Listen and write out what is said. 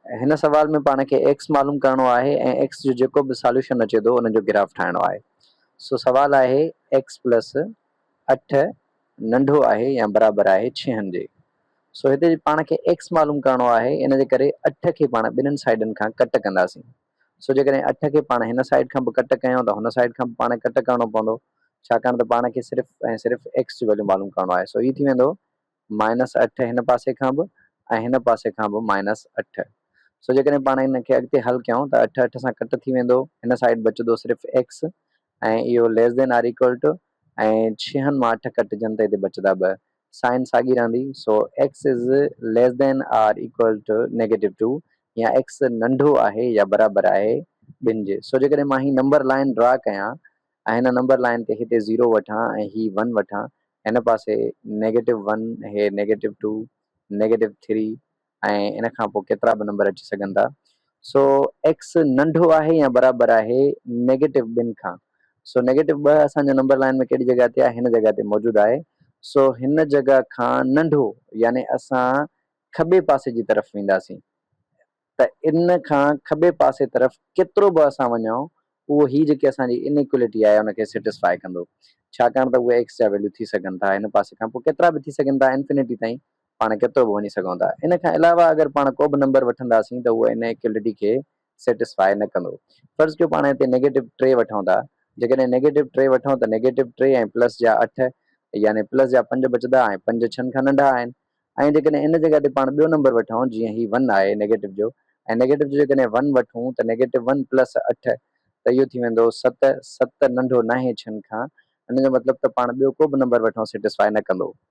هن سوال ۾ پاڻ کي ايڪس معلوم ڪرڻو آهي ۽ ايڪس جو جيڪو به ساليوشن اچي ٿو ان جو گراف ٺاهڻو آهي. سو سوال آهي ايڪس پلس اٺ ننڍو آهي يا برابر آهي ڇهن جي. سو هتي پاڻ کي ايڪس معلوم ڪرڻو آهي ان جي ڪري اٺ کي پاڻ ٻنهن سائيڊن کان ڪٽ ڪنداسين. سو جيڪڏهن اٺ کي پاڻ هن سائيڊ کان به ڪٽ ڪيون ته هن سائيڊ کان به پاڻ ڪٽ ڪرڻو پوندو ڇاڪاڻ ته پاڻ کي صرف ۽ صرف ايڪس جو ويليو معلوم ڪرڻو آهي. سو هي ٿي ويندو مائنس اٺ هن پاسي کان به ۽ هن پاسي کان به مائنس اٺ. سو جيڪڏهن پاڻ ان کي اڳتي حل ڪيون ته اٺ اٺ سان ڪٽ ٿي ويندو هن سائيڊ بچدو صرف ايڪس ۽ اهو less than or equal to ۽ ڇهن مان اٺ ڪٽجن ته هتي بچدا ٻه سائين ساڳي رهندي سو X is less than or equal to negative two يا ايڪس ننڍو آهي يا برابر آهي ٻن جي سو جيڪڏهن مان هي نمبر لائين ڊرا ڪيان ۽ هن نمبر لائين تي هتي زيرو وٺان ۽ هي ون وٺان، هن پاسي نيگيٽو ون، هي نيگيٽو ٽو، نيگيٽو ٿري ۽ ان کان پوء ڪيترا به نمبر اچي سگهن ٿا. سو ايڪس ننڍو آهي يا برابر آهي نيگيٽو ٻن کان. سو نيگيٽو ٻه اسان جو نمبر لائين ۾ ڪهڙي جڳهه تي آهي؟ هن جڳهه تي موجود آهي. سو هن جڳهه کان ننڍو يعني اسان کٻي پاسي جي طرف وينداسين. ته ان کان کٻي پاسي طرف ڪيترو به اسان وڃون اهو هي جيڪي اسان جي انيڪوئلٽي آهي ان کي سيٽسفائي ڪندو ڇاڪاڻ ته اهي ايڪس جا ويليو ٿي سگهن ٿا هن پاسي کان پوء ڪيترا به ٿي سگهن ٿا انفينٽي تائين پاڻ ڪيترو به وڃي سگهون ٿا ان کان علاوه اگر پاڻ ڪو به نمبر وٺنداسين ته اهو انيڪوئلٽي کي سيٽسفائي نه ڪندو فرض ڪيو پاڻ هتي نيگيٽو ٽي وٺون ٿا جيڪڏهن نيگيٽو ٽي وٺون ته نيگيٽو ٽي ۽ پلس جا اٺ يعني پلس جا پنج بچدا ۽ پنج ڇهن کان ننڍا آهن ۽ جيڪڏهن ان جڳهه تي پاڻ ٻيو نمبر وٺون جيئن هي ون آهي نيگيٽو جو ۽ نيگيٽو جو جيڪڏهن ون وٺون ته نيگيٽو ون پلس اٺ ته اهو ٿي ويندو ست، ست ننڍو ناهي ڇهن کان، ان جو مطلب ته پاڻ ٻيو ڪو به نمبر وٺون سيٽسفاء نه ڪندو.